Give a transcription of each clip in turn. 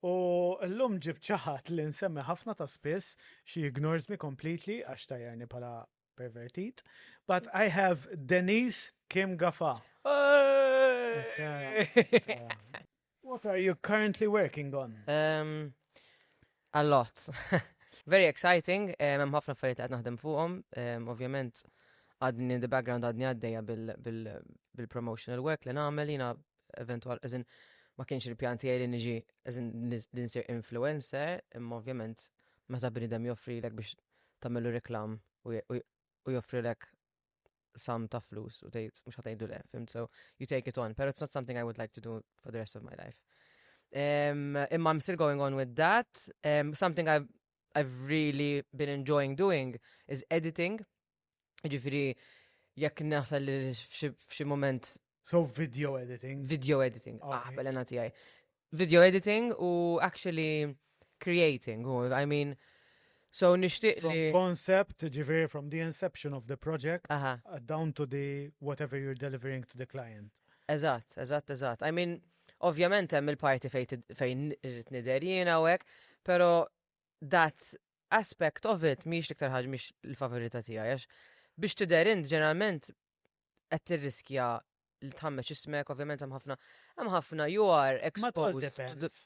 U llum ġibt xi ħadd li nsemmi ħafna ta' spiss, she ignores me completely għax tgħajjarni bħala pervertit, but I have Denise Kim Gafa. What are you currently working on? Um, a lot. Very exciting, eh, hemm ħafna affarijiet li qed naħdem fuqhom, eh, ovvjament għadni in the background għadni għaddejja bil-promotional work li nagħmel jiena eventwal, eżin, ma kienx il-pjan tiegħi li niġi eżin li nsir influencer, imma ovvjament meta bnidem joffri lek biex tagħmlu reklam u joffri lek sam ta' flus u tgħid mhux ħatgħidu le, fim, so you take it on, pero it's not something I would like to do for the rest of my life. Um, imma I'm still going on with that. Um, something I've, I've really been enjoying doing is editing. Ġifiri, jekk naħsel li f'xi moment. So video editing. Video editing, ah, belena tijaj. Video editing u actually creating, u I mean, so nishtiq li. Concept, ġifiri from the inception of the project, uh -huh. Uh, down to the whatever you're delivering to the client. Eżat, eżat, eżat. I mean, ovvjament hemm il-parti fejn irrid nidher jiena u hekk, però that aspect of it mhijiex l-iktar ħaġa mhix il-favorità tiegħi għax biex tidher int ġeneralment qed tirriskja li tħammeġ ismek, ovvjament hemm ħafna hemm ħafna you are exposed.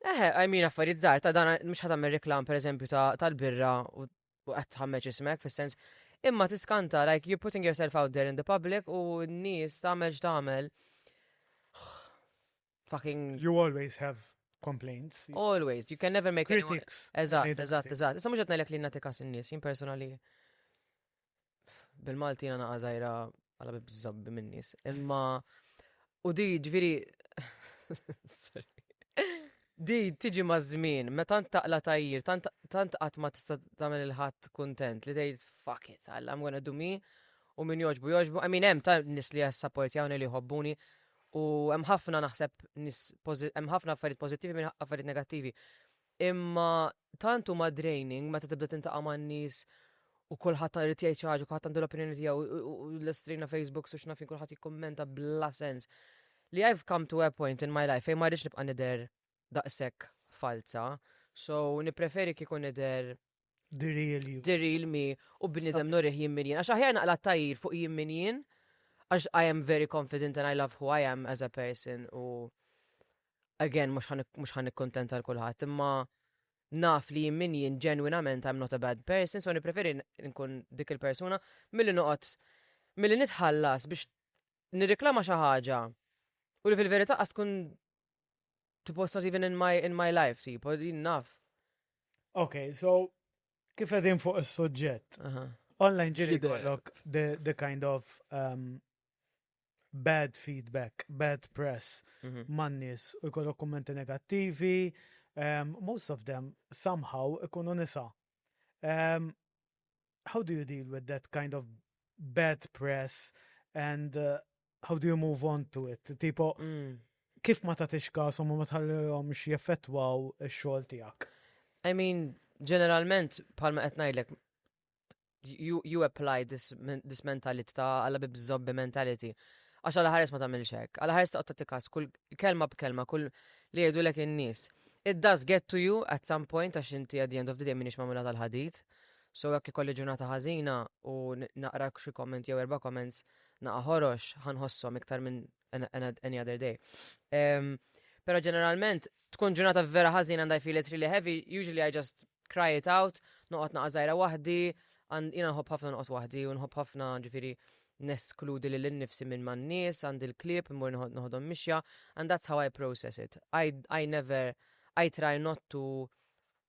Eħe, I mean affarijiet żgħar ta' dan mhux ħadd tagħmel reklam pereżempju tal-birra u qed tħammeġ ismek fis-sens imma tiskanta like you're putting yourself out there in the public u n-nies tagħmel x'tagħmel. fucking. You always have complaints. Always, you can never make critics. Eżatt, eżatt, eżatt. Issa mhux qed ngħidlek li nagħti kas in-nies, jien personali bil-Malti jiena naqa' żgħira għala biżżabbi min-nies. Imma u di ġifieri Di tiġi maż-żmien, meta tant taqla tajjir, tant qatt ma tista' tagħmel il-ħadd kuntent li tgħid fuck it, I'm gonna do me u min joġbu joġbu. I mean hemm ta' nies li jassaportjawni li jħobbuni U hemm ħafna naħseb nis hemm ħafna affarijiet pożittivi minn affarijiet negattivi. Imma tant huma draining meta tibda tintaqa' man-nies u kulħadd irid jgħid xi ħaġa, kulħadd għandu l-opinjoni tiegħu u l-estrina Facebook u x'nafin kulħadd jikkummenta bla sens. Li I've come to a point in my life fejn ma rridx nibqa' nidher daqshekk falza, so nippreferi kieku nidher The real you. The real me. U bnidem nurih jimmin jien. Għax aħjar naqla tajir fuq jimmin jien. Għax I am very confident and I love who I am as a person. U again, mux ħan kontenta l-kulħat. Imma naf li jimmin jien ġenwinament I'm not a bad person. So nipreferi nkun dik il-persuna mill-li noqot mill-li nitħallas biex nirriklama xaħġa. U li fil-verita għaskun Tipo, it's not even in my, in my life, tipo, din naf. Ok, so, kif edin fuq il-sujġet? Online ġiri kollok the, the kind of um, bad feedback, bad press mhm. man-nies u jkollok kommenti negattivi, um, most of them somehow ikunu nisa. Um, how do you deal with that kind of bad press and uh, how do you move on to it? Tipo, mm. kif ma tatix kasom u ma tħallihom x'jeffettwaw ix-xogħol tiegħek? I mean, ġeneralment palma qed ngħidlek you, you apply this, this mentality ta' għalla bibżobbi mentality. Għax għalla ħares ma tagħmilx hekk. Għalla ħares taqgħod tatikas kull kelma b'kelma, kull li jgħidu lek in-nies. It does get to you at some point għax inti at the end of the day minix mamula tal-ħadid. So jekk ikolli ġurnata ħażina u naqra xi comment jew erba' comments naqa' ħorox ħa nħosshom iktar minn any other day. Ehm, però ġeneralment tkun ġurnata vera ħażina għandha feel it really heavy, usually I just cry it out, noqgħod naqa' żgħira waħdi, jiena nħobb ħafna noqgħod waħdi u nħobb ħafna ġifieri neskludi li l-nifsi minn man nies għand il-klib, mur nħodhom mixja, and that's how I process it. I, I never, I try not to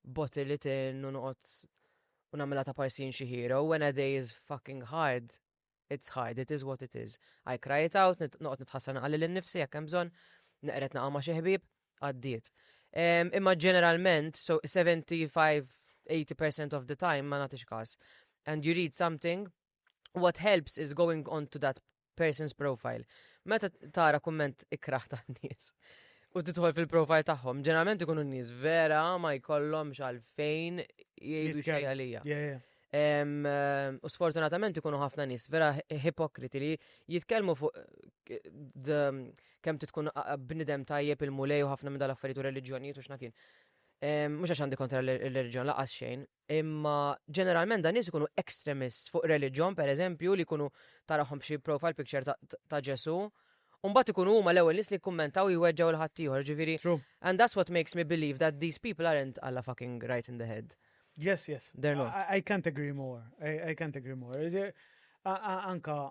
bottle li tin u noqgħod u nagħmilha ta' parsin xi hero when a day is fucking hard. It's hard, it is what it is. I cry it out, noqgħod nitħassar naqalli lil nifsi jekk hemm bżonn, neqred naqgħu ma' xi ħbieb, għaddiet. Imma ġeneralment, so 75-80% of the time ma nagħtix każ. And you read something what helps is going on to that person's profile. Meta tara kumment ikraħ ta' nies u titħol fil-profile tagħhom, ġeneralment ikunu nies vera ma jkollhom xalfejn jgħidu xejn għalija. U sfortunatament ikunu ħafna nies vera hipokriti li jitkellmu fuq kemm titkun bnidem tajjeb il-mulej u ħafna minn dal-affarijiet u reliġjonijiet u x'nafin. Mhux għax għandi kontra l-reliġjon laqas xejn, Imma ġeneralment dan nies ikunu extremists fuq reliġjon, per eżempju, li jkunu tarahom b'xi profile picture ta', ta Ġesu. Umbat ikunu huma l-ewwel nies li jkummentaw jweġġgħu l-ħaddieħor, ġifieri. And that's what makes me believe that these people aren't alla fucking right in the head. Yes, yes. They're not. I, I can't agree more. I, I can't agree more. Anka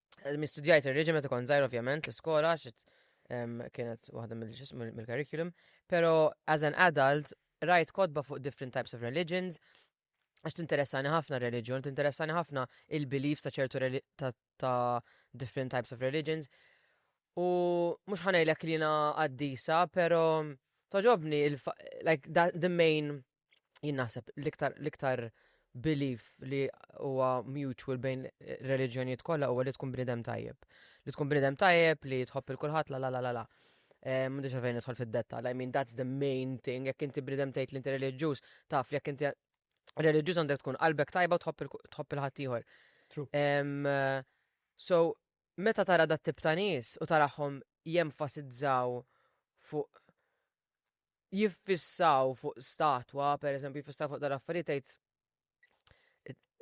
Eh, Mistudjajt il-reġim meta kont zaħir ovvjament l-iskola xit kienet waħda mill-curriculum, pero as an adult rajt kodba fuq different types of religions, għax tinteressani ħafna reliġjon, tinteressani ħafna il-beliefs ta' ċertu ta' different types of religions. U mux ħanajlek li na għaddisa, pero toġobni, like, the main jien naħseb l-iktar l-iktar belief li huwa mutual bejn reliġjonijiet kollha huwa li tkun bnidem tajjeb. Li tkun bnidem tajjeb li tħobb il kulħadd la la la la la. Eh, M'għandix għalfejn nidħol fid-detta. I mean that's the main thing. Jekk inti bnidem tgħid li inti reliġjuż, taf li jekk inti reliġjuż għandek tkun qalbek tajba u tħobb il- tħobb il-ħadd ieħor. True. Em, eh, so, meta tara dat tip ta' nies u taraħom jenfasizzaw fuq jiffissaw fuq statwa, per eżempju, jiffissaw fuq dal-affarijiet tgħid.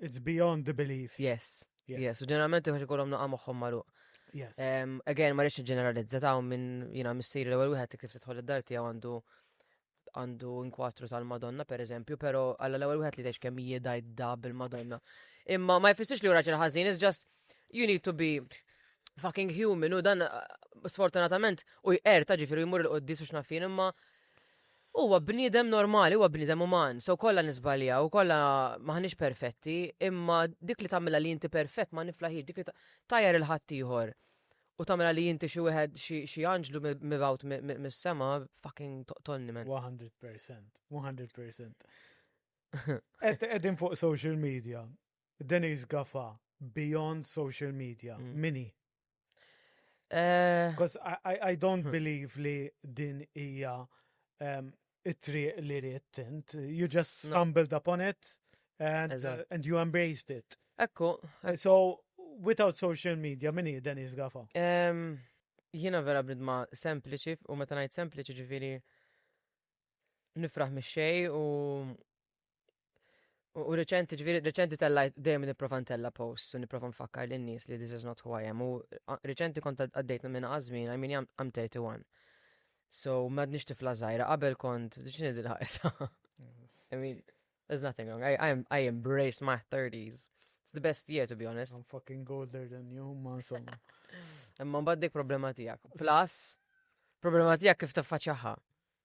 It's beyond the belief. Yes. Yes, u ġeneralment uħġi kolom naqqa moħħom maru. Yes. Um, again, ma rridx ġeneralizza ta' minn jina missir l-ewwel wieħed kif tidħol id-dar tiegħu għandu għandu inkwatru tal-Madonna, per eżempju, pero għalla l-ewwel wieħed li tgħix kemm jiedaj da bil-Madonna. Imma ma jfissirx li raġel ħażin, is just you need to be fucking human u dan sfortunatament u jqer ta' ġifiru jmur il-qoddis u xnafin imma huwa bniedem normali, huwa bniedem uman, so kollha nisbalja u kollha maħniex perfetti, imma dik li tagħmilha li inti perfett ma niflaħiex, dik li tajjar il-ħadd ieħor u tagħmilha li inti xi wieħed xi anġlu mibgħut mis-sema fucking tonni men. 100%, 100%. Qegħdin fuq social media Denise Gaffa, beyond social media, mm. min hi? Because eh, I, I, I don't hmm. believe li din hija um, it-triq li rrit int. You just stumbled no. upon it and, uh, and you embraced it. Ekku. So, without social media, min hi Denise Gaffa? Um, Jiena vera bridma sempliċi u meta ngħid sempliċi ġifieri nifraħ mix-xej u U reċenti, ġviri, reċenti tellajt dejjem niprofa ntella post u niprofa nfakkar lin nies li this is not who I am. U reċenti kont għaddejt minn għazmin, I mean, I'm 31. So, mad nix tifla zaħira, qabel kont, ċini dil ħajsa I mean, there's nothing wrong. I, I, I embrace my 30s. It's the best year, to be honest. I'm fucking older than you, ma insomma. Imma mbagħad dik problema tiegħek. Plus, problema tiegħek kif tiffaċċjaha.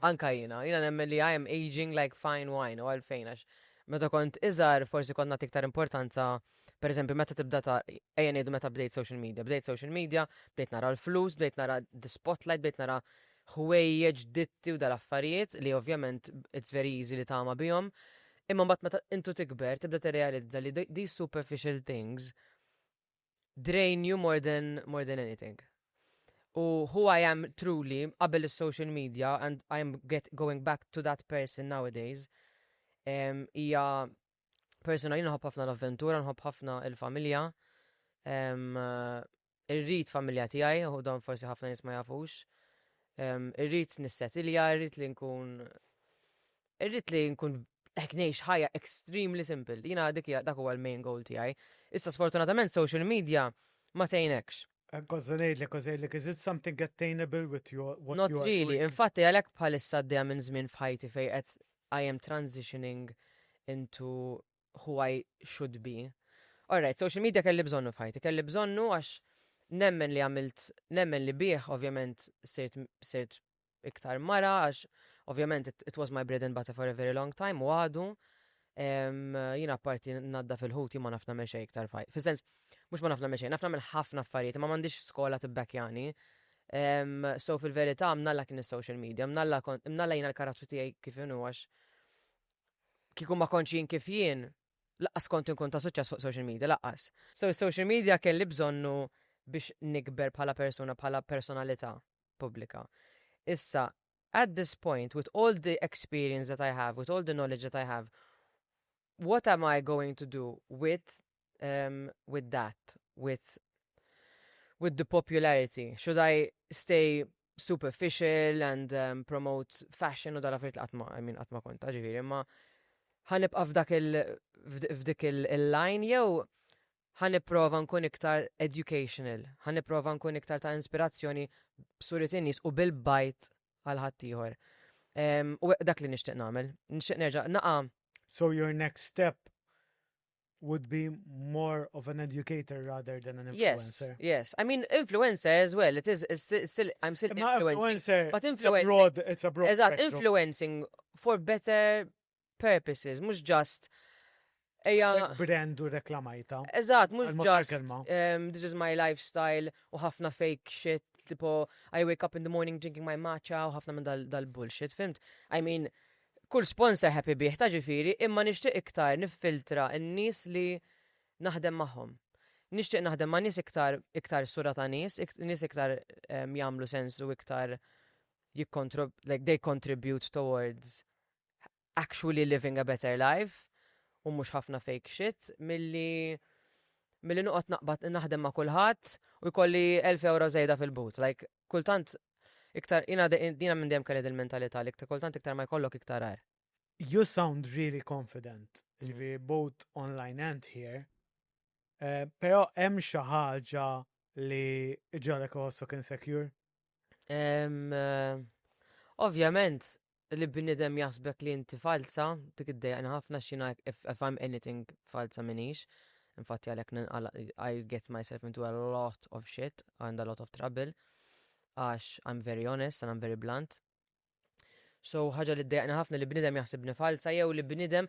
Anka jiena, jiena nemmen li I am aging like fine wine u għalfejn għax meta kont iżgħar forsi kont nagħti iktar importanza per eżempju meta tibda ta' ejja ngħidu meta bdejt social media, bdejt social media, bdejt nara l-flus, bdejt nara the spotlight, bdejt nara ħwejjeġ ditti u dal-affarijiet li ovvjament it's very easy li tama bihom. Imma mbagħad meta intu tikber tibda tirrealizza li these superficial things drain you more than more than anything. U who I am truly qabel is-social media and I am get going back to that person nowadays hija um, persona li nħobb ħafna l-avventura, nħobb ħafna il-familja. Um, irrid familja tiegħi, u dan forsi ħafna nies ma jafux. Um, irrid nissetilja, irrid li nkun Irrid li nkun hekk ngħix ħajja extremely simple. Jiena dik dak huwa l-main goal tiegħi. Issa sfortunatament social media ma tgħinekx. Għazza ngħidlek u żejlek, is it something attainable with your what Not really, infatti għalhekk bħalissa għaddejja minn żmien f'ħajti fejn qed I am transitioning into who I should be. Alright, social media kelli bżonnu f'ħajti, kelli bżonnu għax nemmen li għamilt, nemmen li bih ovvjament sirt iktar mara, għax ovvjament it, it was my bread and butter for a very long time, u għadu, jina parti nadda fil-ħuti ma nafna meċe iktar faj. Fil-sens, mux ma nafna meċe, nafna minn ħafna affarijiet, ma mandiġ skola t-bekjani. So fil-verita, mnalla kien il-social media, mnalla jina l-karattru tijaj kif inu għax kikum ma konċin kif jien, laqqas kont nkun ta' suċċess fuq social media, laqqas. So social media kelli bżonnu biex nikber bħala persona, bħala personalità. pubblika. Issa, at this point, with all the experience that I have, with all the knowledge that I have, what am I going to do with um, with that, with with the popularity? Should I stay superficial and um, promote fashion u dala frit għatma, I mean għatma konta ġifiri, ma ħanibqa f'dak il f'dik il-line jew Ħa nipprova nkun iktar educational, ħa nipprova nkun iktar ta' inspirazzjoni b'suriet in-nies u bil-bajt għal ħaddieħor. U dak li nixtieq nagħmel, nixtieq nerġa' naqa' So your next step would be more of an educator rather than an influencer. Yes, yes. I mean, influencer as well. It is still, I'm still influencing. Influencer, but influencing. It's a broad, it's a broad Eżat, influencing for better purposes, mhux just Eja. Brand u reklamajta. Eżatt, mhux just um, this is my lifestyle u ħafna fake shit, tipo I wake up in the morning drinking my matcha u ħafna minn dal-bullshit, fimt? I mean, kull sponsor happy bih ta' ġifiri, imma nixtieq iktar niffiltra n-nies li naħdem magħhom. Nixtieq naħdem ma' nies iktar iktar sura ta' nies, nies iktar um, jagħmlu sens u iktar jikkontrib, like they contribute towards actually living a better life u mhux ħafna fake shit milli milli noqgħod naqbad naħdem ma' kulħadd u jkolli 1000 euro żejda fil-but. Like kultant iktar jina dina minn dejjem kelli il-mentalità li kultant iktar ma jkollok iktar għar. You sound really confident, ġifi both online and here. Uh, Pero hemm xi ħaġa li ġalek osok insecure? Um, uh, Ovvjament, li bniedem jaħsbek li inti falza, dik id-dejjaqni ħafna xina if, if I'm anything falza minix. Infatti għalek ninqala, I get myself into a lot of shit and a lot of trouble. Għax I'm very honest and I'm very blunt. So ħaġa li d-dejjaqni ħafna li bniedem jaħsibni falza jew li bniedem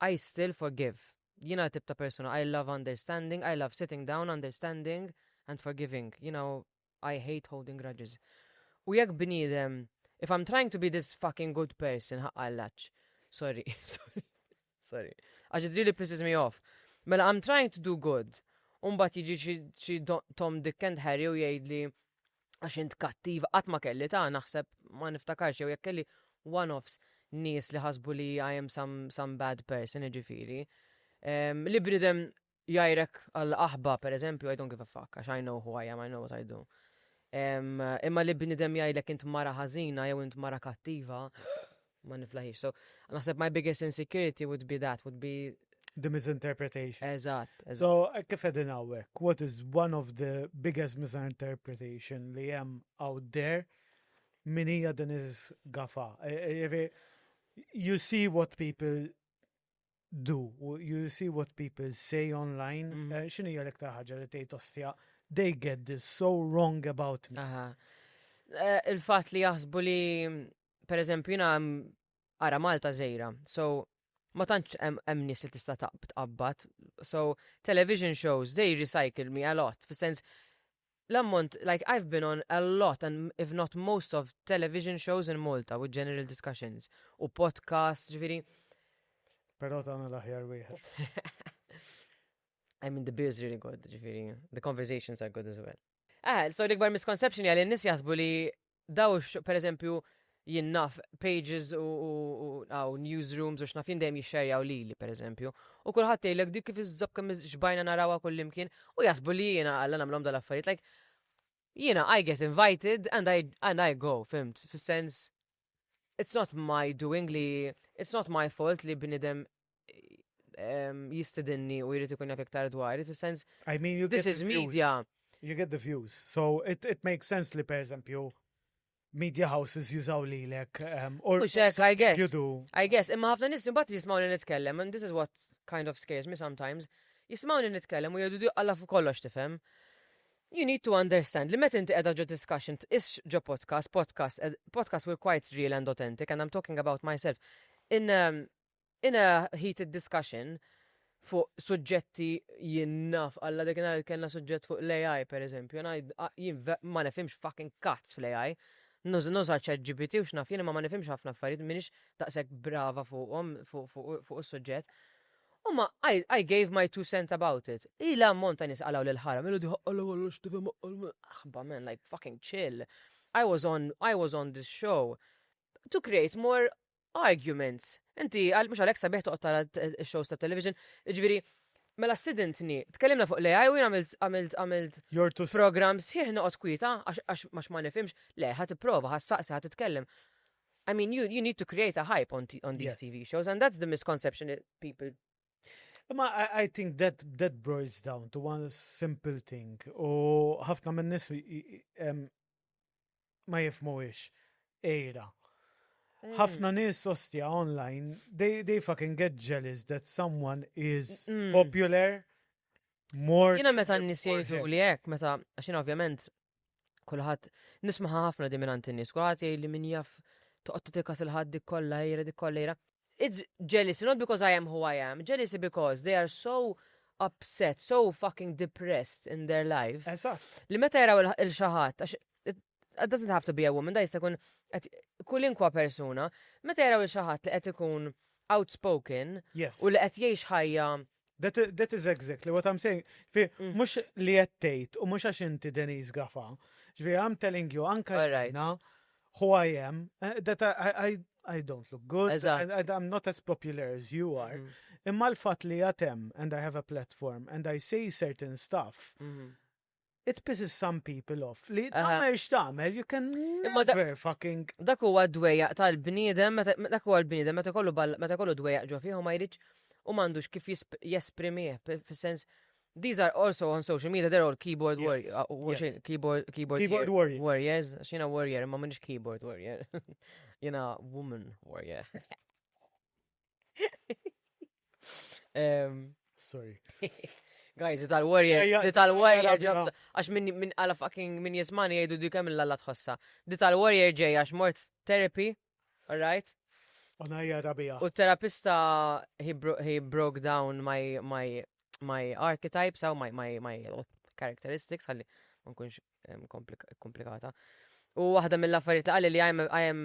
I still forgive. Jiena tip ta' persuna, I love understanding, I love sitting down, understanding and forgiving. You know, I hate holding grudges. U jekk bniedem, if I'm trying to be this fucking good person, ħaqqallaċ. Sorry, sorry, sorry. Għax it really pisses me off. Mela, I'm trying to do good. Umbat jiġi xi Tom Dick and Harry u jgħidli, għax int kattiv, qatt ma kelli ta' naħseb ma niftakarx jew jekk kelli one-offs nies li ħasbu li I am some, some bad person, ġifiri. Um, li bnidem jajrek għal aħba, per eżempju, I don't give a fuck, għax I know who I am, I know what I do. Um, imma li bnidem jajlek int mara ħazina jew int mara kattiva, Ma niflaħix. So, naħseb my biggest insecurity would be that, would be The misinterpretation. Eżatt, eżatt. So, eh, kif edin għawek, what is one of the biggest misinterpretation li jem out there min hija din is gafa. Eh, eh, you see what people do, you see what people say online, mm. xinu hija l-iktar ħaġa li tgħid ostja, they get this so wrong about me. Il-fatt li jaħsbu li per eżempju, jina ara Malta zejra, so ma tantx hemm nies li tista' taqbad. So television shows they recycle me a lot fis-sens l-ammont like I've been on a lot and if not most of television shows in Malta with general discussions u podcast ġifieri. Però tagħna l-aħjar wieħed. I mean the beer's really good ġifieri the conversations are good as well. Ah, so l-ikbar misconception jgħal n-nis jasbu li daw per eżempju jien naf pages u għaw newsrooms u xnaf jien dejjem jixxerjaw li li per eżempju. U kullħat jgħidlek dik kif iżżob kemm xbajna narawa kullimkien u jasbu li jiena għalla nagħmlhom dal-affarijiet. Like, jiena I get invited and I, and I go, fimt, fis-sens it's not my doing li it's not my fault li bnidem jistidinni u jrid ikun jaf iktar dwar, fis-sens. I mean, you this is media. You get the views. So it, it makes sense li per eżempju media houses jużaw li lek. Um, or Uxek, I guess. You do. I guess, imma ħafna nis bat jismaw li nitkellem, and this is what kind of scares me sometimes. Jismaw li nitkellem u jgħidu għalla fuq kollox tifhem. You need to understand li meta inti qiegħda ġo discussion is ġo podcast, podcast, eh, podcast were quite real and authentic and I'm talking about myself. In um, In a heated discussion fuq suġġetti jien naf, Alla dik nhar kellna suġġett fuq l-AI pereżempju, jiena jien ma nifhimx fucking kazz fl-AI. Nuża ChatGPT u x'naf jien imma ma nifhimx ħafna affarijiet, m'iniex daqshekk brava fuqhom fuq is-suġġett. Imma I gave my two cents about it. Hi l-ammont ta' nies qalgħu lil Haram, Ilha dieħ Alla kollox tifhem Alla. Aħba man, like fucking chill. I was on this show to create more Arguments. Inti, mhux għalhekk sabiħ toqgħod tara x-shows ta' television, ġifieri Mela sidintni, tkellimna fuq l-AI u jien għamilt għamilt għamilt Jortu program sħiħ noqgħod kwieta għax għax ma nifhimx, le ħadd ipprova, ħadd saqsi, ħadd titkellem. I mean, you, you need to create a hype on, on these yeah. TV shows, and that's the misconception that people Ma I, I think that that boils down to one simple thing. U ħafna minn nis ma jifmuwix. Ejra. Mm. Ħafna nies ostja online, they, they fucking get jealous that someone is mm. popular more. Jina meta n-nis jgħidu li jek, meta, għaxin ovvjament, kullħat, nismaħa ħafna di minnant n-nis, kullħat jgħid li min jaf toqgħod tikas il-ħad dik kollha ejra dik kollha ejra. It's jealousy, not because I am who I am, jealousy because they are so upset, so fucking depressed in their life. Eżatt. Li meta jaraw il-xaħat, it doesn't have to be a woman, da jista' jkun kulinkwa persuna, meta jaraw il-xaħat li qed ikun outspoken yes. u li qed jgħix ħajja That is exactly what I'm saying. Fi, mm. mux li jettejt u mux għax inti Denise Gafa. Ġvi, I'm telling you, anka jena, who I am, eh, that I, I, I don't look good, I, I'm not as popular as you are. Mm-hmm. Imma l-fat li jatem, and I have a platform, and I say certain stuff, mm-hmm. It pisses some people off. Li tagħmel x'tagħmel, you can never fucking. Dak huwa d-dwejjaq tal-bniedem, dak huwa l-bniedem meta kollu meta kollu dwejjaq ġo fih u ma jridx u m'għandux kif jesprimih fis-sens These are also on social media, they're all keyboard warriors. Uh, uh, keyboard, keyboard, keyboard warrior. warriors. Xina warrior, ma minix keyboard warrior. Jena woman warrior. Sorry. Guys, tal warrior di tal warrior għax minn għala fucking minn jismani jgħidu di kemm l-alla tħossa. Di tal warrior ġej għax mort therapy, alright? Unajja rabija. U terapista he, bro he broke down my, my, my archetypes, how my, my, my characteristics, għalli ma nkunx komplikata. U waħda mill-affarijiet li qalli li I am, I am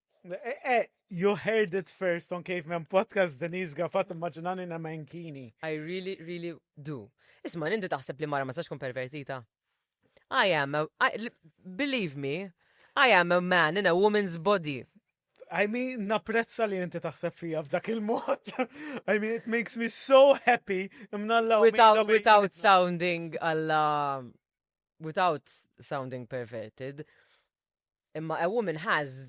Eh, eh, you heard it first on Caveman Podcast, Denise Gaffat, immaġinani na menkini. I really, really do. Isma, ninti taħseb li mara ma sax kun pervertita? I am, a, I, believe me, I am a man in a woman's body. I mean, naprezza li inti taħseb fija f'dak il-mod. I mean, it makes me so happy. Imnalla without, without sounding alla... Without sounding perverted. Imma a woman has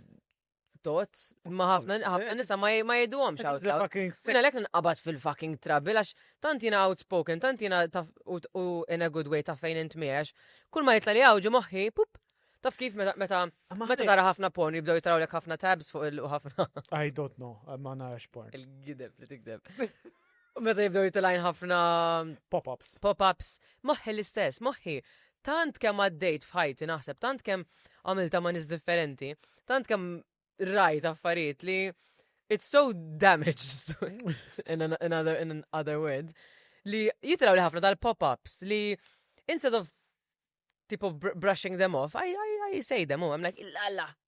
thoughts. Imma ħafna ħafna nisa ma ma jgħiduhomx out loud. Fucking sick. Jina lek nqabad fil-fucking trouble għax tant jina outspoken, tant jina taf u u in a good way taf fejn int miex. Kull ma jitla li għawġi moħħi, pup, taf kif meta meta Amma meta ħaj- tara ħafna porn jibdew jitrawlek ħafna tabs fuq il u ħafna I don't know, ma narax porn. il-gideb li tikdeb. U meta jibdew jitilajn ħafna pop-ups. Pop-ups, moħħi l-istess, moħħi. Tant kemm għaddejt f'ħajti naħseb, tant kemm għamilta ma' nis differenti, tant kemm rajt affarijiet li it's so damaged in, an, in, other, in other words li jitraw li ħafna tal-pop-ups li instead of tipo brushing them off, I, I, I say them, oh, I'm like, illa,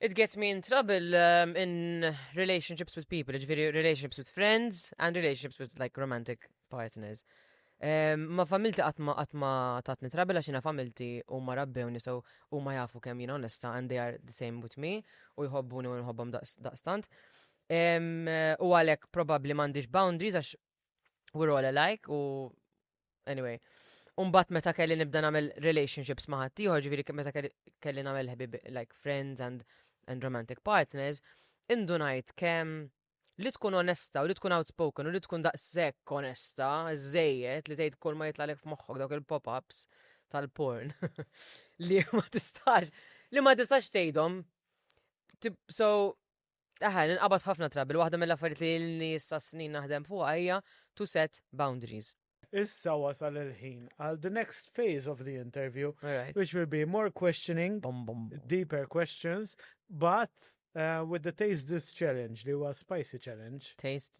It gets me in trouble um, in relationships with people, ġviri relationships with friends and relationships with like romantic partners. Um, ma familti għatma għatma tatni trouble għaxina familti u ma rabbewni so u ma jafu kem jina onesta and they are the same with me u jħobbuni u nħobbom daqstant. Um, u għalek probabli mandiġ boundaries għax We're all alike u anyway. Umbat meta kelli nibda nagħmel relationships ma' ħadd ieħor, ġifieri meta kelli nagħmel ħbib like friends and and romantic partners, indunajt kemm li tkun onesta u li tkun outspoken u li tkun daqshekk onesta, żejjed li tgħid kull ma jitlalek f'moħħok dawk il-pop-ups tal-porn li ma tistax li ma tistax tgħidhom. So Aha, ninqabad ħafna trabil, waħda mill-affarijiet li ilni issa snin naħdem fuqha hija to set boundaries. Issa wasal il-ħin għal the next phase of the interview, which will be more questioning, deeper questions, but uh, with the taste this challenge li huwa spicy challenge. Taste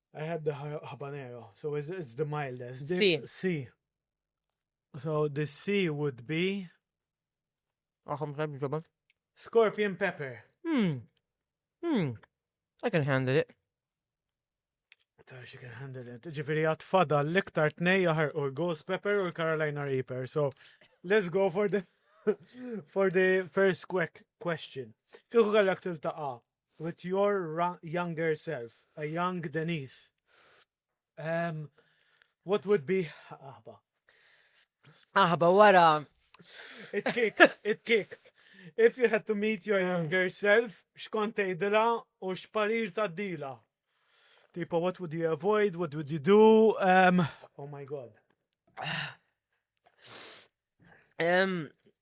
I had the habanero, so it's, it's the mildest. The, C. C. So the C would be. Awesome, thank you, Scorpion pepper. Hmm. Hmm. I can handle it. Tar she can handle it. Ġifiri għat fada l-iktar tnej jaħar u l-Ghost Pepper u l-Carolina Reaper. So, let's go for the for the first quick question. Kieku għallak tiltaqa With your ra younger self, a young Denise, um, what would be aħba? Aħba wara. It kick, it kick. If you had to meet your younger self, xkont tgħidilha u x'parir tgħaddilha? Tipo, what would you avoid? What would you do? Um, oh my god. Um,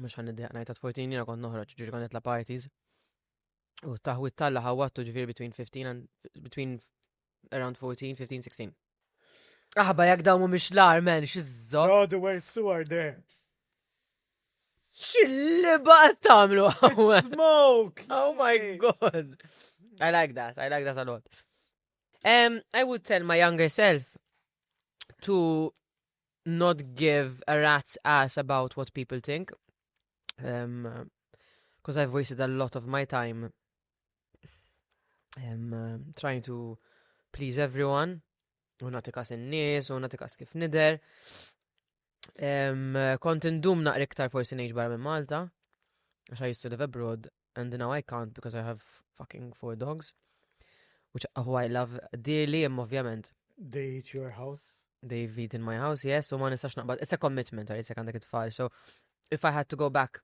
mhux ħan niddeq ngħid 14 jiena kont noħroġ ġifieri kont nitla' parties. U taħwit talla ħawattu ġifieri between 15 and between around 14, 15, 16. Aħba jekk dawn mhumiex l-ar men xiżżor. No, the words too are there. Xilliba tagħmlu hawn. Smoke! Oh my god. I like that. I like that a lot. Um, I would tell my younger self to not give a rat's ass about what people think. Um, Because I've wasted a lot of my time um, uh, trying to please everyone. U nati kas in-nies, u nati kas kif nider. Um, kont indum naqri iktar forsi ngħix barra minn Malta, għax I used to live abroad, and now I can't because I have fucking four dogs, which who I love dearly, imma ovvjament. They eat your house? They've eaten my house, yes, u ma nistax naqbad. It's a commitment, għalit se għandek it-tfal. So, if I had to go back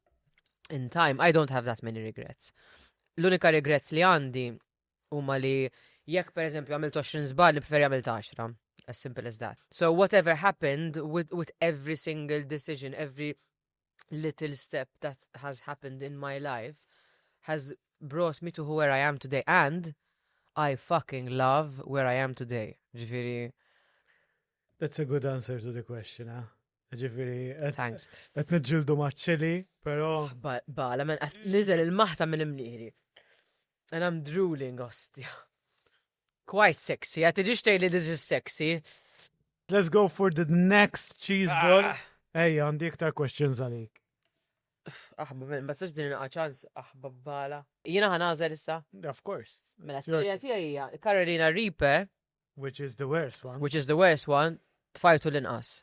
in time, I don't have that many regrets. L-unika regrets li għandi huma li jekk per eżempju għamilt 20 zbal, nipferi għamilt 10. As simple as that. So whatever happened with, with every single decision, every little step that has happened in my life has brought me to where I am today and I fucking love where I am today. Ġifiri. That's a good answer to the question, huh? Ġifiri, thanks. Qed niġġildu maċċili, però. Bala, men qed niżel il-maħta minn imnieri. And I'm drooling, ostja. Quite sexy, a tiġix tgħidli this is sexy. Let's go for the next cheese ball. Ejja, għandi iktar questions għalik. Aħba, ma tistax din inqa ċans, aħba bala. Jiena ħanażel issa. Of course. Mela, t-tija tija hija Carolina Reaper. Which is the worst one. Which is the worst one, tfajtu l-inqas.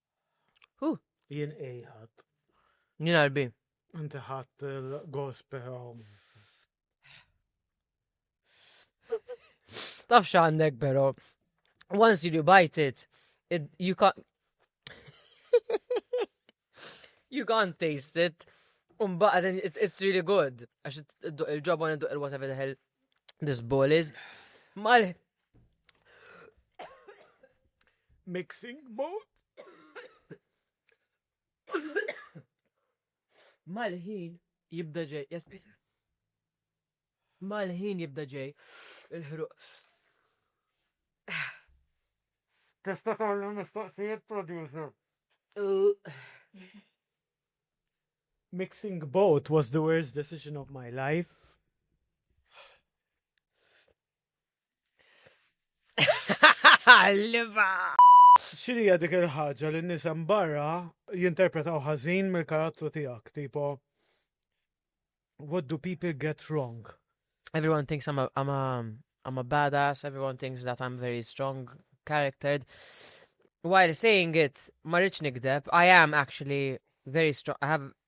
Jien ej ħadd. Jien arbi. Inti ħadd il-gospel. Taf x'għandek però. Once you bite it, it you can't you can't taste it. Umba, as in, it's, it's really good. Għax il-ġobon id-duq il-whatever the hell this ball is. Mal Mixing mode. Mal-ħin jibda ġej, jaspis. Mal-ħin jibda ġej il-ħruq. Testa kollu mistoqsijiet producer. Mixing both was the worst decision of my life. Liva! X'inhija dik il-ħaġa li n-nies hemm barra jinterpretaw ħażin mill-karattru tiegħek, tipo What do people get wrong? Everyone thinks I'm a, I'm a, I'm a badass, everyone thinks that I'm very strong charactered. While saying it, ma rridx nikdeb, I am actually very strong, I have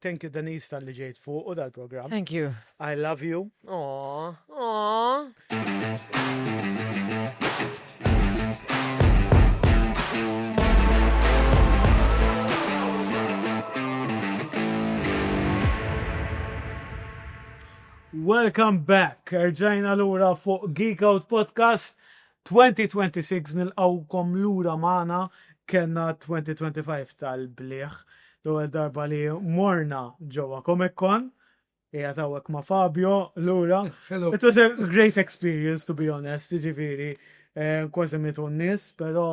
Thank you Denise tal-li ġejt fuq u dal-program. Thank you. I love you. Aww. Aww. Welcome back. Erġajna l-ura fuq Geek Out Podcast. 2026 nilqgħukom lura magħna kellna 2025 tal-bliħ l-ewwel darba li morna ġewwa Comic Con qiegħed hawnhekk ma' Fabio lura it was a great experience to be honest jiġifieri kważi mietu n-nies però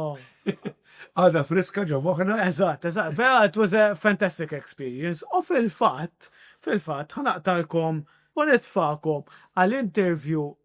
għadha friska ġo moħħna eżatt eżatt però it was a fantastic experience u fil-fatt fil-fatt ħa naqtagħlkom u nitfagħkom għal interview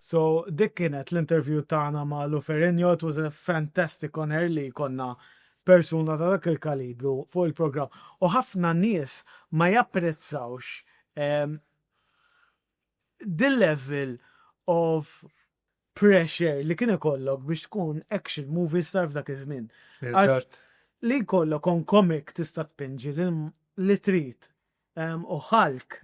So dik kienet l-interview tagħna ma' Lou Ferrigno, it was a fantastic honour li jkollna persuna ta' dak il-kalibru fuq il-programm. U ħafna nies ma japprezzawx the level of pressure li kien ikollok biex tkun action movie star f'dak iż-żmien. Li jkollok on comic tista' tpinġi li trid u Hulk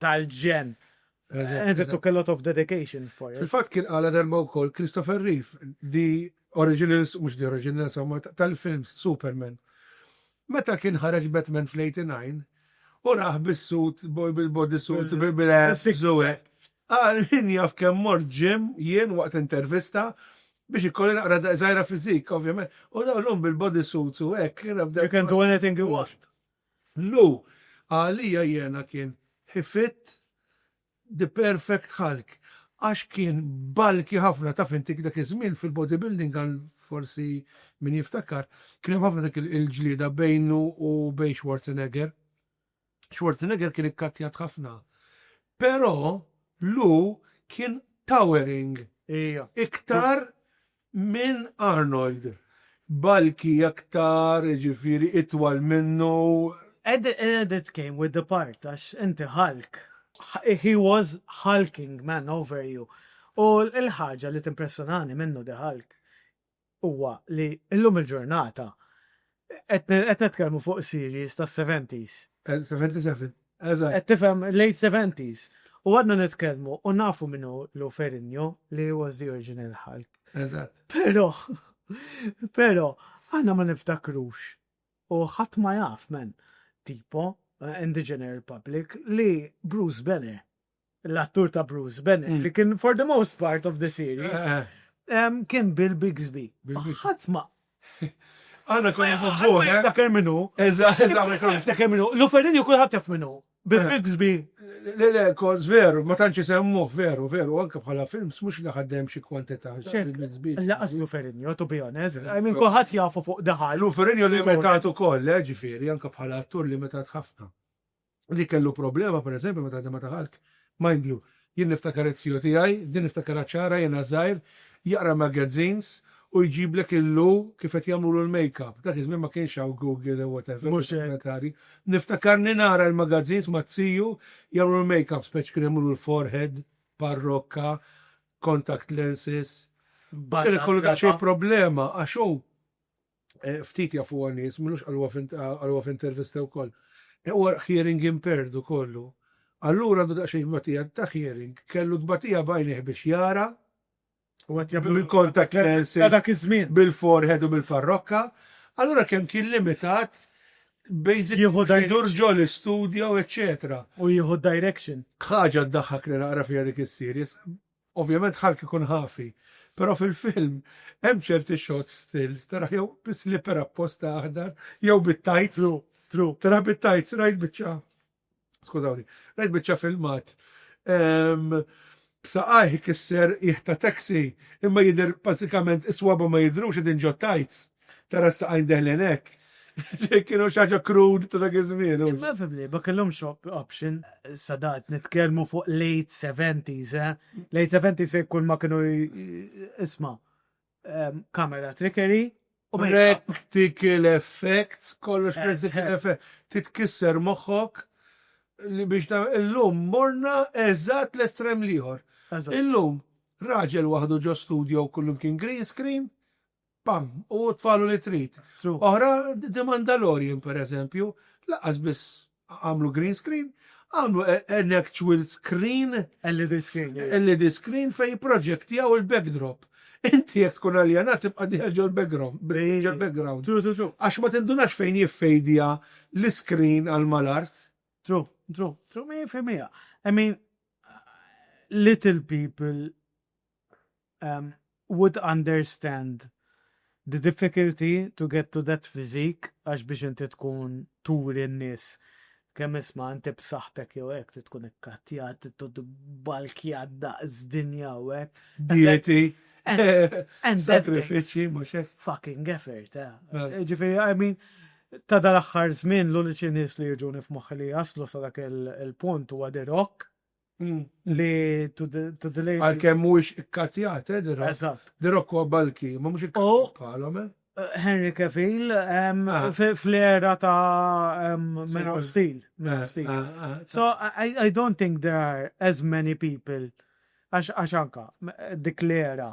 tal-ġenn. And it took a lot of dedication for it. Fil-fatt kien qalha darba wkoll Christopher Reeve, the originals, mhux the originals, imma tal-films Superman. Meta kien ħareġ Batman fl-89, u raħ bis-sut, bil-body suit, bil-abs u hekk. Qal min jaf kemm mort ġim jien waqt intervista biex ikolli naqra daqsżgħira fiżik, ovvjament. U dawn llum bil-body suits u hekk. You can do anything you want. Lu, Għalija jiena kien he fit the perfect hulk għax kien bulky ħafna, taf inti dak iż-żmien fil-bodybuilding għal forsi min jiftakar kien hemm ħafna dik il-ġlieda bejnu u bejn Schwarzenegger. Schwarzenegger kien ikkattjat ħafna. Però Lu kien towering. Ija. Iktar minn Arnold, balki aktar, jiġifieri itwal minnu. Ed ed it came with the part, għax inti Hulk. He was hulking, man, over you. U l-ħaġa li timpressjonani minnu, the Hulk, huwa li llum il-ġurnata Qed nitkellmu fuq series tas-seventies. Seventy seven, eżatt. Qed tifhem late seventies. U għadna nitkellmu u nafu min hu Lou Ferrigno li he was the original Hulk. Eżatt. Però, però, aħna ma niftakrux u ħadd ma jaf, man, tipo, in the general public, li Bruce Banner l-attur ta' Bruce Bennett, mm. li kien for the most part of the series, eh, eh. kien Bill Bixby. Ħadd ma. Għana konna fuħu, eh? Ftakar minnu. Eża, eża, ftakar minnu. L-Uferin ju kullħat taf minnu. Bill Bixby. Le, le, kont veru, ma tanċi semmu, veru, veru, anka bħala film, mux li ħaddem xie kwantita. Bill Bixby. Laqas l-Uferin ju, to be honest. I mean, kullħat jafu fuq daħal. L-Uferin ju li metat u koll, ġifiri, anka bħala attur li metat ħafna. li kellu problema, per eżempju, meta ħdem ma ta' Hulk, mind you, jien niftakar it-tio tiegħi, din niftakarha ċara jiena żgħir, jaqra magazines u jġiblek il-lu kif qed jagħmlulu l-makeup. Dak iż-żmien ma kienx hawn Google jew whatever. Mhux hekk. Dokumentari. Niftakarni nara l-magazines ma' tiju jagħmlu l-makeup, speċi kienu jagħmlulu l-forehead, parrokka, contact lenses. Barra Kellu daqsxejn s-seba'. problema għax hu eh, ftit jafu għanis, minux għalwa f'intervista u koll. Eh, u hearing impaired u kollu. Allura għandu daqxej batija ta' hearing, kellu d-batija bajniħ biex jara, bil-contact lenses, bil-forehead u bil-parrokka, allura kem kien limitat basic jidur ġol studio eccetera. U jieħu direction. ħaġa d-daħħak li naqra fija dik is-series, Ovvjament Hulk ikun ħafi, però fil-film hemm ċerti shots stills taraħ jew bi slipper apposta aħdar jew bit-tajts. True, true. Taraħ bit-tajts, rajt biċċa, skużawni, rajt biċċa filmat b'saqajh ikisser qiegħ ta' taxi imma jidher bażikament is-swaba' ma jidhrux qegħdin ġot-tajts. Tara s-saqajn deħlin hekk. Kienu xi ħaġa crude ta' dak iż-żmien. Imma fimni, ma kellhomx option. Sadat nitkellmu fuq late 70s, eh? Late 70s fejn kull ma kienu isma' ehm, kamera trickery. Practical effects, kollox practical effects. Titkisser moħħok li biex ta' illum morna eżatt l-estrem liħor. Illum, raġel waħdu ġo studio kullum kien green screen, Pam, u tfalu li trid. Oħra, The Mandalorian pereżempju, laqqas biss għamlu green screen, għamlu an actual screen, LED screen, LED screen fejn jipproġektjaw il-backdrop. Inti jekk tkun aljenat tibqa' dieħel ġol-background. True, true, true. Għax ma tindunax fejn jiffejdja l-iskrin għal mal-art. True, true, true, mija fil-mija. I mean, little people would understand the difficulty to get to that physique għax biex inti tkun turi n-nies kemm isma' inti b'saħħtek jew hekk trid tkun ikkattjat, trid balkjat daqs dinja u hekk. Dieti. And sacrifici mhux hekk. Fucking effort, eh. eh. Ġifieri, I mean, ta' dal-aħħar żmien l-uniċi nies li jiġuni f'moħħi li jaslu sa dak il-punt huwa The Rock. Mm. Li to the, to the lady. Għalkemm mhuwiex ikkatjat, eh, dirok. Eżatt. Dirok huwa balki, ma mhux ikkatjat bħalhom, eh. Henry Cavill ah. fl-era ta' Man of Steel. Ah, ah, so I, I don't think there are as many people għax anka dik l-era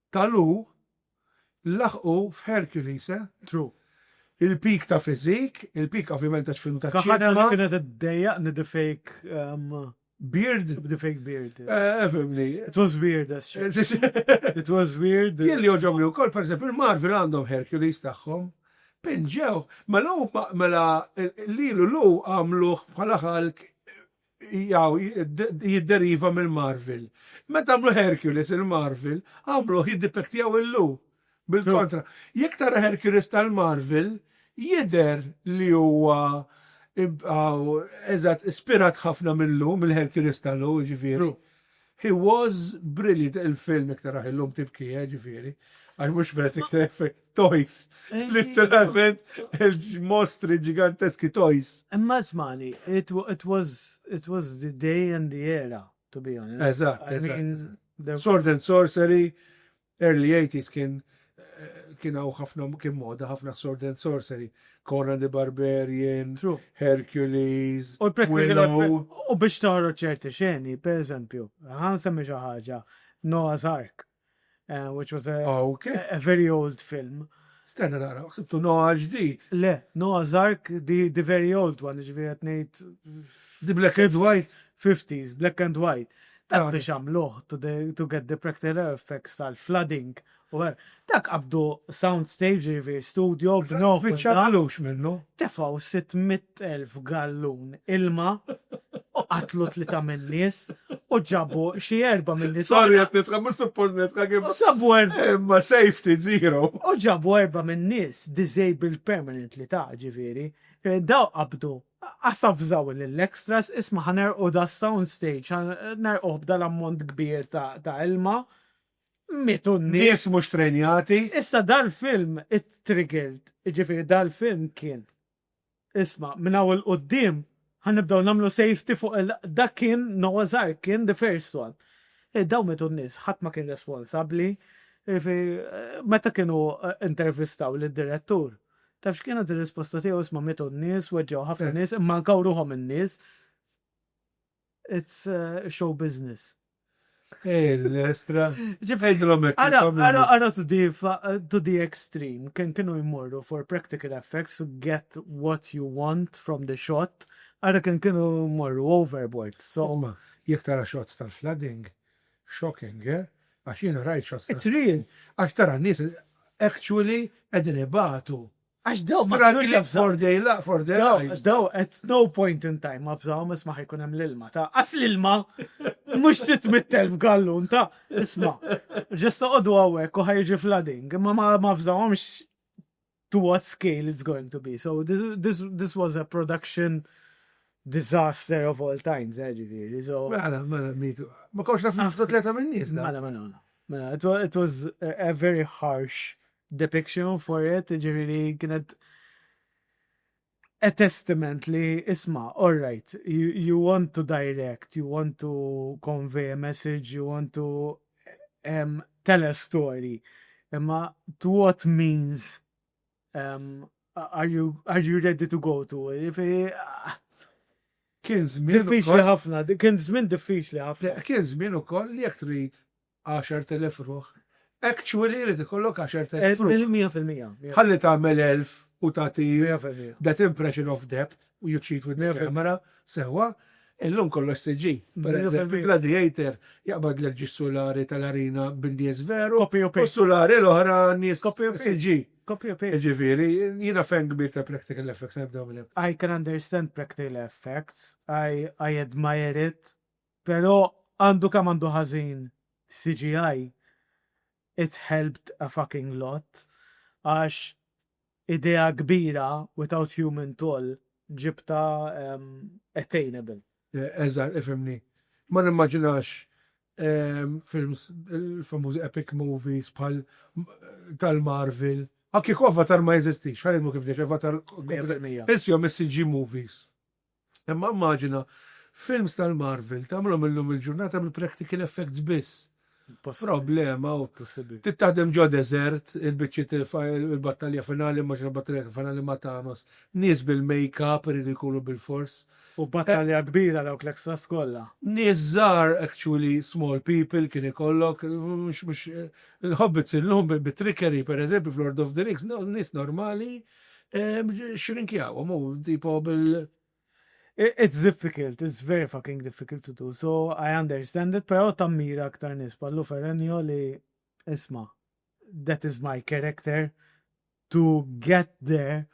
ta' Lu laħqu f'Hercules, eh? True. Il-peak ta' physique, il-peak ovvjament ta' film ta' ċinema. Kaħħa li kienet iddejjaq ni the fake. Beard? The fake beard. Eh, fimni. It was weird, as shit. It was weird. Jien li joġobni wkoll, per eżempju, il-Marvel għandhom Hercules tagħhom. Pinġew, mela mela lilu lu għamluh bħala ħalk Jaw, jidderiva mill-Marvel. Meta għamlu Hercules il-Marvel, għamluh jiddipektjaw il-lu. Bil-kontra. Jekk tara Hercules tal-Marvel, jidher li huwa eżatt ispirat ħafna mil-lu, mill-Hercules tal-lu, jiġifieri. He was brilliant il-film iktar raħ illum tibki, eh, ġifieri, għax mhux qed ikref toys, literalment il-mostri ġiganteski toys. Imma smani, it was it was the day and the era, to be honest. Eżatt, eżatt. I mean, there was Sword and sorcery, Early eighties kien kien hawn ħafna kien moda ħafna sword and sorcery, Conan the Barbarian, Hercules, Willow. U biex toħroġ ċerti xeni, per eżempju, ħa nsemmi xi ħaġa, Noah's Ark, which was a very old film, Stenna nara, ħsibtu Noah l-ġdid. Le, Noah's Ark the the very old one, jiġifieri qed ngħid The black and white? fifties, black and white. Dak biex għamluh to the to get the practical effects tal-flooding u hekk. Dak qabdu sound stage, jiġifieri studio b'nuh. Spiċċa b'lux minnu. Tefgħu sitt mitt elf gallun ilma u qatlu tlita min-nies u ġabu xi erba min-nies. Sorry qed nidħak mhux suppost nidħak imma. Sabu erba. Imma safety zero. U ġabu erba min-nies disabled permanently ta' ġifieri. Daw qabdu asafżaw lill-extras isma' ħa nerqu da sound stage ħa nerquh b'dan ammont kbir ta' ilma. Mietu n-nies. Nies mhux trejnjati. Issa dal-film it-triggered, ġifieri dal-film kien Isma', minn hawn 'il quddiem ħa nibdew nagħmlu safety fuq il Dak kien Noah's Ark, kien the first one. Eh, dawn mietu n-nies, ħadd ma kien responsabbli. Jiġifieri, eh, meta kienu eh, intervistaw lid-direttur, taf x'kienet ir-risposta tiegħu isma' mietu n-nies, weġġgħu ħafna nies, imma ankaw ruħhom in-nies. It's show business. Ej, l-estra. Ġifejdilom ek. Għana to the extreme, kien kienu jmorru for practical effects to get what you want from the shot, għana kien kienu jmorru overboard. So, ma, jek tara shots tal-flooding, shocking, eh? Għax jina rajt shots. It's real. Għax tara nis actually edin ibatu. Għax daw ma kienux jafżaw. Daw at no point in time ma fżaw isma ħajkun hemm l-ilma ta' as l-ilma mhux 600,000 gallun ta' isma. Ġesta qogħdu hawnhekk u ħajġi flooding imma ma fżawhomx to what scale it's going to be. So this, this, this was a production disaster of all times, eh, ġifiri. So... Mela, mela, mitu. Ma kawx naf nafdu tleta minn nis. Mela, mela, mela. Mela, it was a very harsh depiction for it, ġifiri kienet a testament li isma, all right, you, you want to direct, you want to convey a message, you want to um, tell a story. Imma to what means um, are you are you ready to go to? If ah, kien żmien diffiċli ħafna, kien żmien diffiċli ħafna. Kien żmien ukoll li jekk trid 10,000 ruħ. Actually irid ikollok 10,000 ruħ. Mil mija fil-mija. Ħalli tagħmel elf u tagħti that impression of depth u you cheat with the camera sewwa, illum kollox CG. Pereżempju Gladiator jaqbadlek ġie s-sulari tal-arena bin-nies veru u s-sulari l-oħra nies CG. Jiġifieri jiena fan kbir ta' practical effects nibdew minn hemm. I can understand practical effects, I admire it. Pero għandu kemm għandu ħażin CGI, it helped a fucking lot għax idea kbira without human toll ġibtha attainable. Eżatt, ifhimni. Ma nimmaġinax films, il-famużi epic movies bħal tal-Marvel. Kieku Avatar ma jeżistix, ħa ngħidlu kif ġiex, Avatar, Mija fil-mija. Isihom is-CG movies. Imma immaġina films tal-Marvel tagħmlhom illum il-ġurnata bil-practical effects biss. Problema u tittaħdem ġo desert, il-biċċiet il-battalja finali, immaġina battalja finali ma' Thanos, nies bil-make-up iridu jkunu bil-fors. U battalja kbira dawk l-extras kollha. Nies żgħar actually small people kien ikollok, mhux il-hobbits illum bit-trickery pereżempju f'Lord of the Rings, nies normali Xirinkjawhom u tipo bil It's difficult, it's very fucking difficult to do, so I understand it, pero tammira aktar nis pallu Ferenio li isma, that is my character, to get there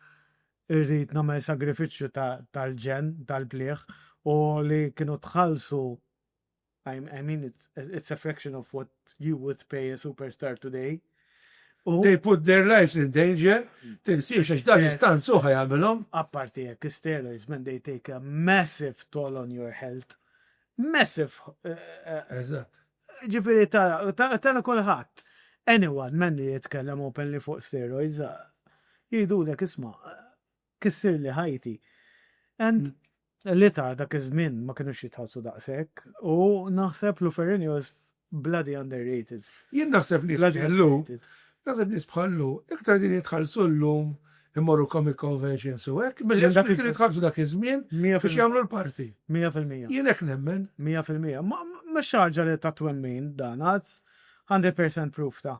irrid namel sagrifiċċju tal-ġenn, tal-plieħ, u li kienu tħallsu I, I mean, it's, it's a fraction of what you would pay a superstar today. U They put their lives in danger, tinsiex għax dan jistan suħa jagħmilhom. apparti jekk steroids, man, they take a massive toll on your health. Massive. eh, eh, Eżatt. Ġifiri tara, tara, tara kulħadd. Anyone, man li jitkellem openly fuq steroids, eh, jgħidulek isma, eh, Kissirli ħajti. And l-itgħar dak iż-żmien ma kinux jitħallsu daqshekk u naħseb Luferin was bloody underrated. Jien naħseb nies bħal Lou, naħseb nies bħal Lou iktar qegħdin jitħallsu llum immorru comic conventions u hekk milli dawk li kienu jitħallsu dak iż-żmien biex jagħmlu l-party. Mija fil-mija. Jien hekk nemmen. Mija fil-mija. Mhux xi ħaġa li ta' twemmin dan, għad 100% proof ta'.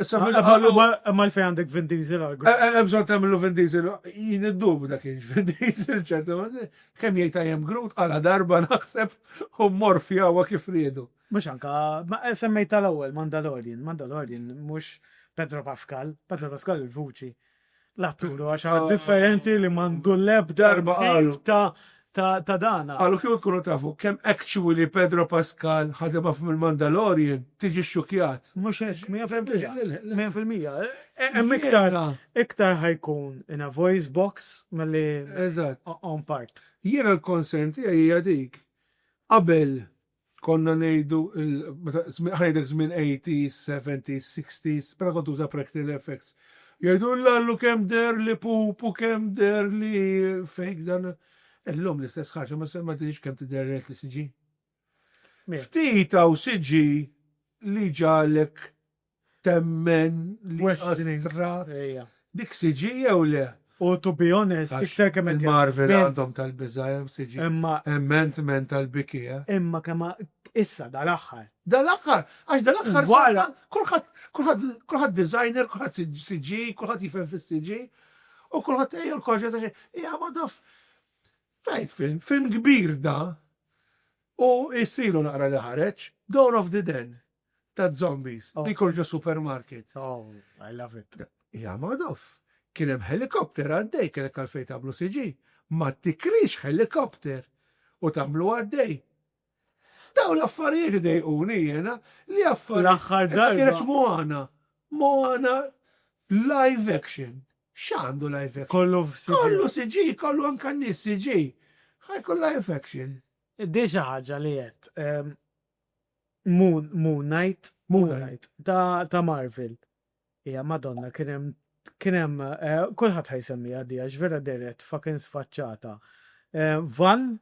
Issa fil-qalu. Ma l-fej għandek Vin Diesel għal grupp. Eh, eh, Ebżon tamlu Vin Diesel, jien id-dub dak kienx Vin Diesel ċertu. Kem jgħid għajem grut għala darba naħseb u morfja għu kif riedu. Mux anka, ma eh, semmejt tal-ewel Mandalorian, Mandalorian mux Pedro Pascal, Pedro Pascal il-vuċi. L-attur huwa xi ħadd differenti li m'għandu l-ebda Darba qalu. tip ta' ta' ta' dana. Qalu kieku tkunu tafu kemm actually Pedro Pascal ħadem ħafna mill-Mandalorian, tiġi xxukjat. Mhux hekk, mija fil-mija. Mija fil-mija. Hemm iktar Jiena. iktar ħa jkun in a voice box milli Eżatt. on part. Jiena l-concern tiegħi hija dik. Qabel Konna ngħidu l, meta, żmien, ħa ngħidlek żmien 80s, 70s, 60s, meta kont tuża practical effects. Jgħidu l-lallu kemm deher li pup u kemm deher li fake dan. Illum l-istess ħaġa ma se ma tidhirx kemm tidher realt li CG. Ftit hawn CG li ġagħlek temmen li Astra dik CG jew le? U to be honest, iktar kemm qed jgħaddi ż-żmien. Marvel għandhom tal-biża' hemm CG. Imma. Hemm Ant-Man tal-biki, eh. Imma kemm issa dal-aħħar. Dal-aħħar, għax dal-aħħar wara kulħadd, kulħadd, kulħadd designer, kulħadd CG, kulħadd jifhem fis-CG, u kulħadd ejja l-koġġa ta' xejn. Hija ma taf. Rajt film, film kbir da, u jsirlu naqra li ħareġ, Dawn of the Dead. ta' zombies li jkorġu supermarket. Oh, I love it. Hija Madoff. Kien hemm helicopter għaddej kellek għalfejn tagħmlu CG. Ma tikrix helicopter u tagħmlu għaddej. Dawn l-affarijiet idejquni jiena li affarijiet. L-aħħar darba. Issa kienet Moana. Moana live action. X'għandu live action? Kollu f'CG. Kollu CG, kollu anke n-nies CG. Ħajkun live action. Di xi ħaġa li qed. Moon, Moon Knight, Moon Knight, ta', ta Marvel. Ija, madonna, kienem, kienem, eh, kullħat ħajsemmija di, għax vera deret fucking sfaċċata. Eh, Van,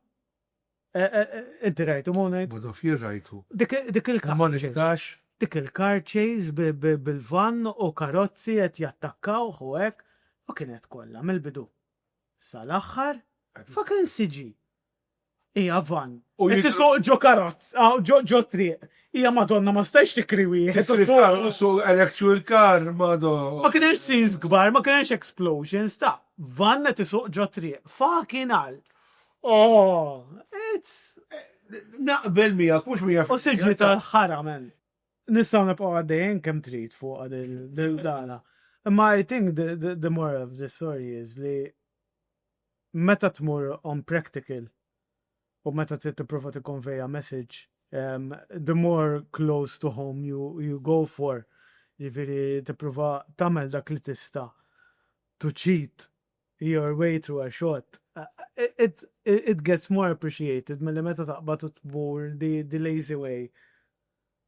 eh, eh, eh, inti rajtu Moon Knight? Bodo fjir rajtu. Dik, dik il-car. Ma niktax. Dik il-car chase bi- bi- bil-van u karozzi qed jattakkawh u hekk, u kienet kollha mill-bidu. Sal-aħħar, fucking siġi. Ija van. U jitisuq ġo karozz, ġo triq. Ija madonna ma stajx tikri wieħed. U su electrical car, madonna. Ma kienx scenes kbar, ma kienx explosions ta' van qed isuq ġo triq. Fucking hell. Oh, it's Naqbel miegħek, mhux miegħek. U siġi tal-ħara men. Nistgħu nibqgħu għaddejjin kemm trid fuq din dana. Imma I think the, the, the moral of the story is li Meta tmur on practical u meta trid tipprova tikkonvejja message, the more close to home you you go for, jiġifieri tipprova tagħmel dak li tista' to cheat your way through a shot, it it gets more appreciated milli meta taqbad u tmur the lazy way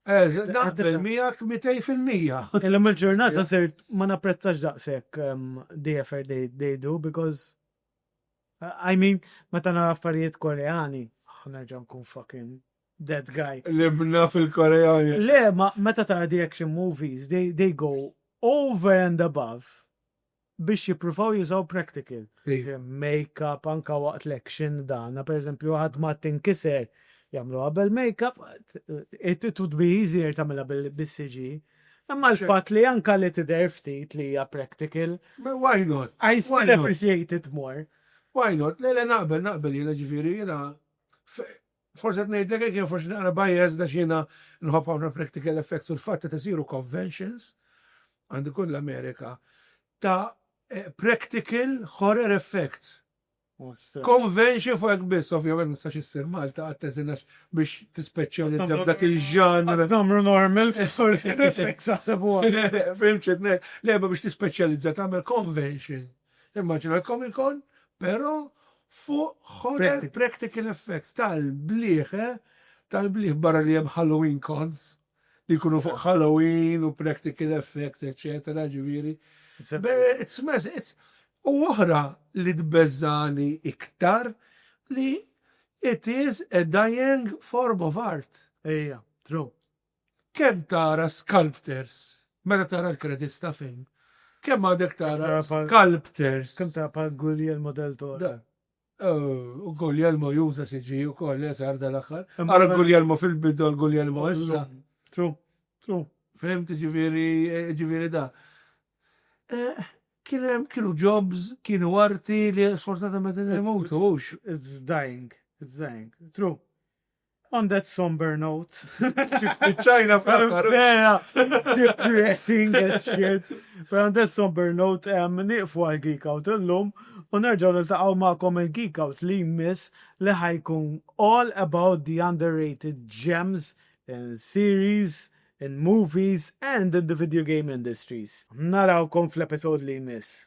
Naqbel miegħek 200%. Illum il-ġurnata sirt ma napprezzax daqshekk DFR dejdu because I mean meta nara affarijiet Koreani, nerġa' nkun fucking that guy. Libna fil-Koreani. Le, ma meta tara the action movies, they, they go over and above biex jippruvaw jużaw practical, make-up anke waqt l-action dan, per eżempju għadma tinkiser jagħmluha bil-make-up, it would be easier tagħmilha bil-CG. Imma l-fatt li anke li tidher ftit li hija practical. Why not? I still appreciate it more. Why not? Le le naqbel naqbel jiena ġifieri jiena Forsi qed ngħidlek hekk jew forsi naqra biased għax jiena nħobb ħafna practical effects u l-fatt qed isiru conventions għand ikun l-Amerika ta' practical horror effects. Convention fuq hekk biss, ovvjament ma nistax issir Malta qatt teżinax biex tispeċjalizza f'dak il-ġanr. Tagħmlu normal effects aħseb huwa. Fimtx qed ngħid, lejba biex tispeċjalizza tagħmel convention. Immaġina l-Comic-Con però fuq horror practical effects tal-bliħ, eh, tal-bliħ barra li hemm Halloween cons li jkunu fuq Halloween u practical effects eċċetera, ġifieri. It's massive, it's U oħra li tbeżżagħni iktar li it is a dying form of art. Ejja, true. Kemm tara sculptors meta tara l-credits ta' film? Kemm għadek tara sculptors? Kemm tara pa' Guglielmo del Toro? U Guglielmo juża CG u koll, esar dal-axar. Għara Guglielmo fil-bidu għal Guglielmo issa. True, true. Fehmt ġiviri, ġiviri da. Kienem, kienu jobs, kienu arti li sfortunatament imutu, ux? It's dying, it's dying. True. On that somber note. Ċajna fl-aħħar. Vera, depressing as shit. But on that somber note, um, niqfu għal Geek Out illum u nerġaw niltaqgħu magħkom il-Geek Out li jmiss li ħajkun all about the underrated gems in series, in movies and in the video game industries. Narawkom fl-episod li jmiss.